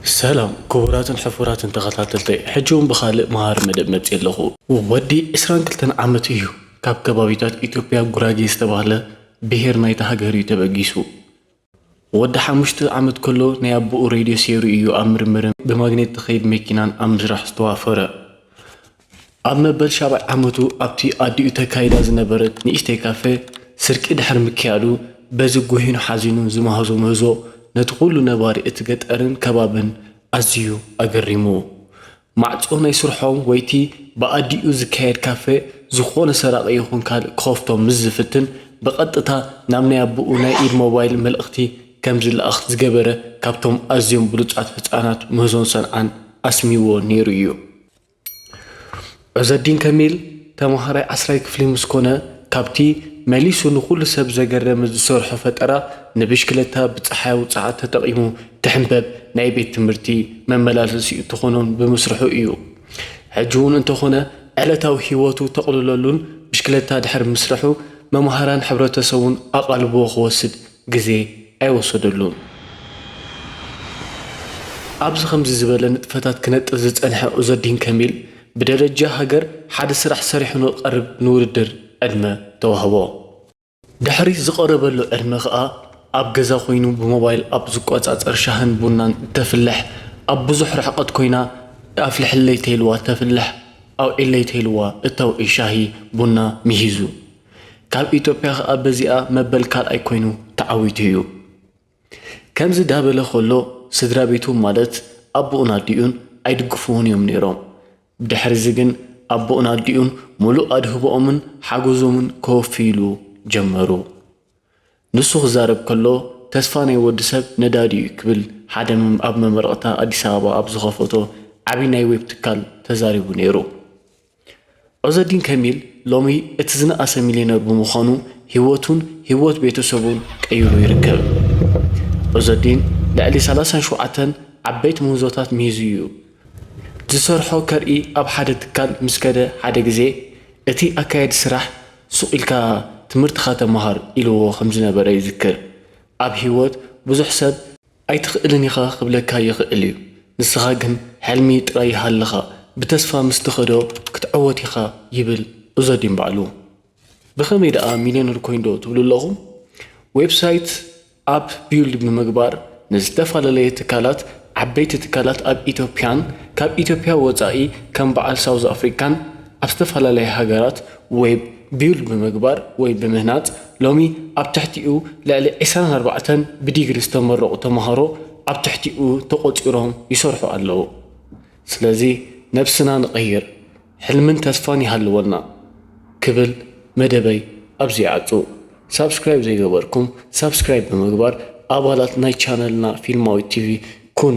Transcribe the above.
ሰላም ክቡራትን ሕፉራትን ተኸታተልተይ ሕጂ ውን ብኻልእ መሃሪ መደብ መጺኤ ኣለኹ። ወዲ ዕስራን ክልተን ዓመት እዩ ካብ ከባቢታት ኢትዮጵያ ጉራጌ ዝተባህለ ብሄር ናይታ ሃገር እዩ ተበጊሱ። ወዲ ሓሙሽተ ዓመት ከሎ ናይ ኣቡኡ ሬድዮ ሴሩ እዩ ኣብ ምርምርን ብማግኔት ትኸይድ መኪናን ኣብ ምስራሕ ዝተዋፈረ። ኣብ መበል ሻብዓይ ዓመቱ ኣብቲ ኣዲኡ ተካይዳ ዝነበረት ንእሽተይ ካፈ ስርቂ ድሕሪ ምክያዱ በዚ ጉሂኑ ሓዚኑ ዝመሃዞ ምህዞ ነቲ ኩሉ ነባሪ እቲ ገጠርን ከባብን ኣዝዩ ኣገሪሙዎ። ማዕጾ ናይ ስርሖም ወይ'ቲ ብኣዲኡ ዝካየድ ካፈ ዝኾነ ሰራቒ ይኹን ካልእ ክኸፍቶ ምስ ዝፍትን ብቐጥታ ናብ ናይ ኣቦኡ ናይ ኢድ ሞባይል መልእኽቲ ከም ዝለኣኽ ዝገበረ ካብቶም ኣዝዮም ብሉጻት ህጻናት ምህዞን ሰንዓን ኣስሚዎ ነይሩ'ዩ። ዑዘዲን ከሚል ተምሃራይ ዓስራይ ክፍሊ ምስ ኮነ ካብቲ መሊሱ ንኹሉ ሰብ ዘገረመ ዝሰርሖ ፈጠራ ንብሽክለታ ብፀሓያዊ ፀዓት ተጠቒሙ ትሕንበብ ናይ ቤት ትምህርቲ መመላለሲኡ ትኾኖን ብምስርሑ እዩ። ሕጂ እውን እንተኾነ ዕለታዊ ህይወቱ ተቕልለሉን ብሽክለታ ድሕሪ ምስርሑ መምሃራን ሕብረተሰቡን ኣቓልቦ ክወስድ ግዜ ኣይወሰደሉን። ኣብዚ ከምዚ ዝበለ ንጥፈታት ክነጥፍ ዝጸንሐ ዑዘዲን ከሚል፣ ብደረጃ ሃገር ሓደ ስራሕ ሰሪሑ ንክቐርብ ንውድድር ዕድመ ተዋህቦ። ድሕሪ ዝቐረበሉ ዕድመ ከኣ ኣብ ገዛ ኮይኑ ብሞባይል ኣብ ዝቆጻጸር ሻህን ቡናን እተፍልሕ፣ ኣብ ብዙሕ ርሕቐት ኮይና ኣፍልሕለይ ተይልዋ እተፍልሕ፣ ኣውዕይለይ ተይልዋ እተውዕይ ሻሂ ቡና ምሂዙ። ካብ ኢትዮጵያ ከኣ በዚኣ መበል ካልኣይ ኮይኑ ተዓዊቱ እዩ። ከምዚ ዳበለ ከሎ ስድራቤቱ ማለት ኣቡኡን ኣዲኡን ኣይድግፍዎን እዮም ነይሮም። ብድሕሪዚ ግን ኣቡኡን ኣዲኡን ምሉእ ኣድህቦኦምን ሓጎዞምን ከወፍይሉ ጀመሩ። ንሱ ክዛረብ ከሎ ተስፋ ናይ ወዲ ሰብ ነዳዲ እዩ ክብል ሓደ ኣብ መመረቕታ ኣዲስ ኣበባ ኣብ ዝኸፈቶ ዓቢ ናይ ዌብ ትካል ተዛሪቡ ነይሩ። ዑዘዲን ከሚል ሎሚ እቲ ዝነኣሰ ሚልዮነር ብምዃኑ ህይወቱን ህይወት ቤተሰቡን ቀይሩ ይርከብ። ዑዘዲን ልዕሊ ሰላሳን ሸውዓተን ዓበይቲ ምህዞታት ምሂዙ እዩ። ዝሰርሖ ከርኢ ኣብ ሓደ ትካል ምስ ከደ ሓደ ግዜ እቲ ኣካያዲ ስራሕ ሱቕ ኢልካ ትምህርትኻ ተምሃር ኢልዎ ከም ዝነበረ ይዝክር። ኣብ ህይወት ብዙሕ ሰብ ኣይትኽእልን ኢኻ ክብለካ ይኽእል እዩ ንስኻ ግን ሕልሚ ጥራይ ይሃልኻ ብተስፋ ምስ ትኸዶ ክትዕወት ኢኻ ይብል ኡዘዲን ባዕሉ። ብኸመይ ደኣ ሚልዮነር ኮይን ዶ ትብሉ ኣለኹም? ዌብሳይት ኣፕ ቢውልድ ብምግባር ንዝተፋላለየ ትካላት ዓበይቲ ትካላት ኣብ ኢትዮጵያን ካብ ኢትዮጵያ ወጻኢ ከም በዓል ሳውዝ ኣፍሪካን ኣብ ዝተፈላለያ ሃገራት ዌብ ቢውል ብምግባር ወይ ብምህናጽ፣ ሎሚ ኣብ ትሕቲኡ ልዕሊ ዕስራን ኣርባዕተን ብዲግሪ ዝተመረቑ ተማሃሮ ኣብ ትሕቲኡ ተቖጺሮም ይሰርሑ ኣለዉ። ስለዚ ነብስና ንቐይር፣ ሕልምን ተስፋን ይሃልወና ክብል መደበይ ኣብዚ ይዓጹ። ሳብስክራይብ ዘይገበርኩም ሳብስክራይብ ብምግባር ኣባላት ናይ ቻነልና ፊልማዊት ቲቪ ኩኑ።